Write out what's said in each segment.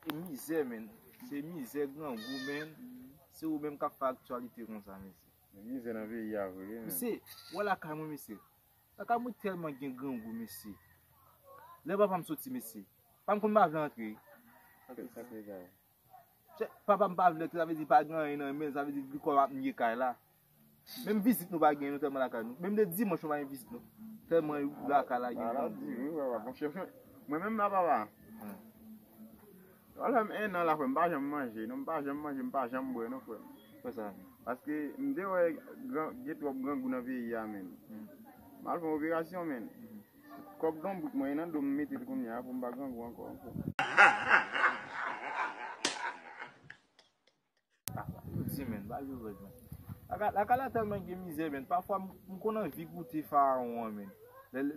E mizè men, se mizè grangou men, se ou menm kap fè aktyalite konsa mesye. Gen mizè nan peyi a vre men. Mesye, wè lakay mwen mesye, lakay mwen tèlman gen grangou mesye. Lè papa m soti mesye, papa m konn pa vle antre. Sa te sa te gaye. Chè, papa m pa vle sa vle di pa gen anyen nan men, sa vle di li kwè m ap nye kay la. Menm vizit nou pa gen nou tèlman lakay nou. Menm le dimanch nou pa gen vizit nou. Tèlman lakay la gen moun. Di wi papa, bon chè fè. Mwen menm la papa. Sa fè m 1 an la frè m pa janm manje non, m pa janm manje, m pa janm bwè non frè m. Pou sa? Paske m te wè gran gen twòp grangou nan peyi a menn. M al fè yon operasyon menn. Kòb donbrik mwen nan dom metel kounya poum pa grangou ankò ankò. Di men ba yo rèd men. Lakay la tèlman gen mizè men pafwa m konn anvi goute farawon an men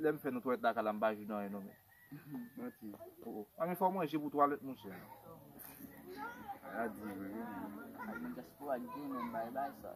lè m fè nan twalèt lakay la m pa jwenn anyen non men. Manti. A men fò manje pou twalèt monchè. Sa di vre wi. Diaspora gen men bay bay sa.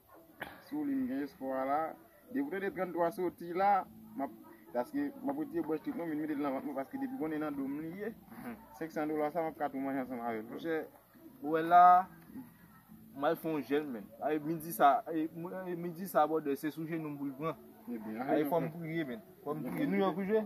Sou li m gen espwa la. Depi w tande 33 soti la, m ap, paske m ap retire bwòch tout mwen vin mete l nan vant mwen paske depi konnen nan do m li ye. 500 dola sa m ap ka tou manje ansanm avè l. Monchè, ou wè la a, m al fè yon jèn menn. Awe midi sa a, e midi sa a bwòdè se sou jenou m pou l pran. Awe fò m priye menn. Fò m priye. Nouyòk ou jwe?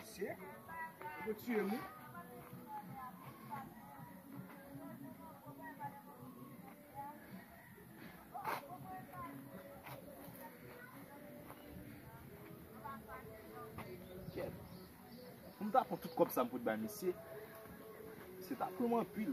Asye. Ou pou tuye m wi. Mwen ta pran tout kòb sa mwen fout bay misye. Misye ta pranm anpil.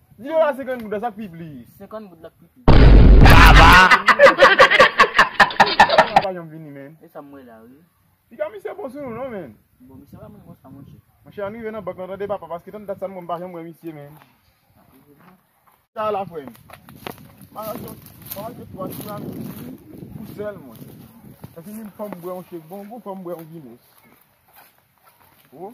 Video la 50 goud la sak pi plis. 50 goud la k pi plis. Kaba. Kaba pa janm vini men. E sa m wè la wi. Piga misye bon sou nou non men. Bon misye pa moun konsa monche. Monche an rive nan bank lan tande papa paske tann dat sa mwen m pa janm wè misye men. Sa la frè m. Ma rache ma rache 3 tiramisu pou sèl mwen. Epi m fè m bwè yon chek bon gou fè m bwè yon guinness. Ou.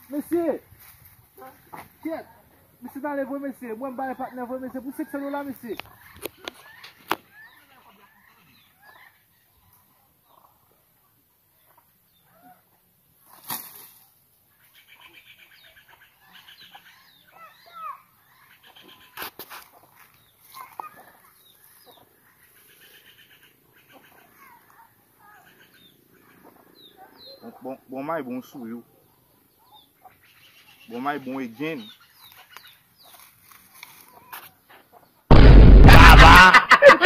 Mesye! Ah kyèt! Mesye tale vre mesye, mwen bay patnè vre mesye pou 500 dola mesye. Bon may bon sou yo. Bon may bon e gen.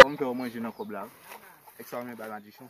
Bon fè ou manje nan kob la. Ek sa ou men bay madichon.